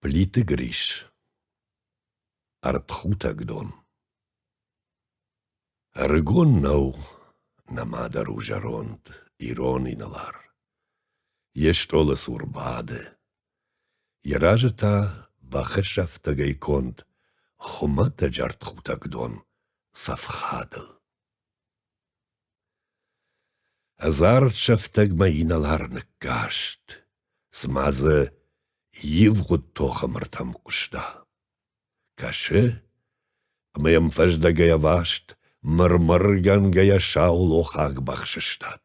Плиты Грис. Ӕртхутӕг дон. Ӕрыгон нӕу нӕ мадӕр у зӕронд, ирон инӕлар. Йе стъолы цур бады. Йӕ разы та бахӕсӕфтӕгӕй конд хуымӕтӕджы ӕртхутӕг дон цӕф хадыл. Ӕдзард сӕфтӕгмӕ инӕлар ныккаст, цыма дзы ивгъуыд тохы мыртӕм хъуыста. Кӕсы, ӕмӕ йӕм фӕздӕгӕй ӕваст, мыр-мыргӕнгӕйӕ сау лохаг бахсыстад.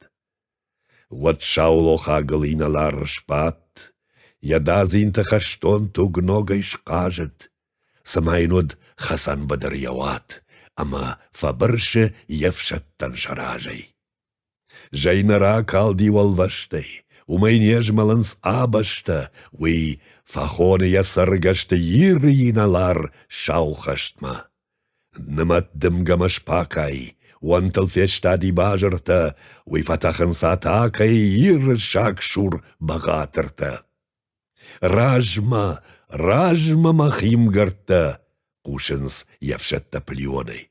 Уӕд саулохагыл инӕлар сбадт, йӕ дадзинты хӕстон туг ногӕй схъазыд, цыма йын уыд хӕцӕнбыдыр йӕ уат, ӕмӕ фӕбырсы йе фсӕдтӕн сӕ разӕй. Зӕй нӕ ракалди уӕлвӕстӕй, уымӕй не змӕлынц абӕстӕ, уый фӕхоны йӕ цӕргӕсты Иры инӕлар сау хӕстмӕ. Нымӕт дымгӕмӕ сбахъай, уӕнтыл фестади базыртӕ, уый фӕтӕхынц атакӕй Иры сагсур бӕгъатыртӕ. Размӕ, размӕ мӕ химгӕрдтӕ хъусынц йе фсӕдтӕ пылионӕй,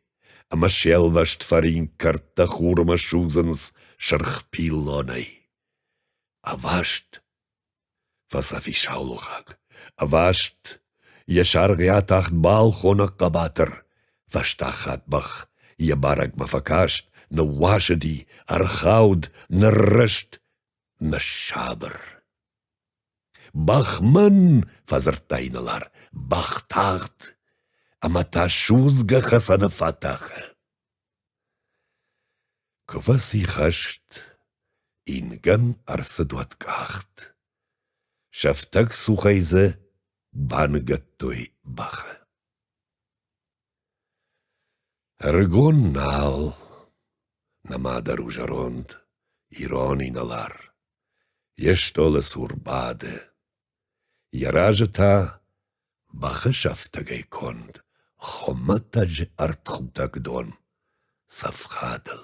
ӕмӕ се лвӕст фӕринк кӕрдтӕ хурмӕ судзынц сырх пиллонӕй. Ӕваст! Фӕцӕфис аулохаг. Ӕваст йӕ саргъйӕ тахт балхоны хъӕбатыр. Фӕстаг хатт бӕх йӕ барӕгмӕ фӕкаст, ныууасыди, ӕрхауд, ныррызт, ныссабыр. Бахман! фӕдзырдта инӕлар. Бӕх тагъд! Ӕмӕ та судзгӕ хӕцӕны фӕтӕхы. Квӕцихӕст ингӕн ӕрцыд уӕд къахт, Сӕфтӕг цухӕй дзы баныгӕдтой бӕхы. Ӕрыгон нал, нӕма дӕр у зӕронд, Ирон инӕлар, йе стъолы цур бады. Йӕ разы та бӕхы сӕфтӕгӕй конд хуымӕтӕджы ӕртхутӕг дон цӕф хадыл.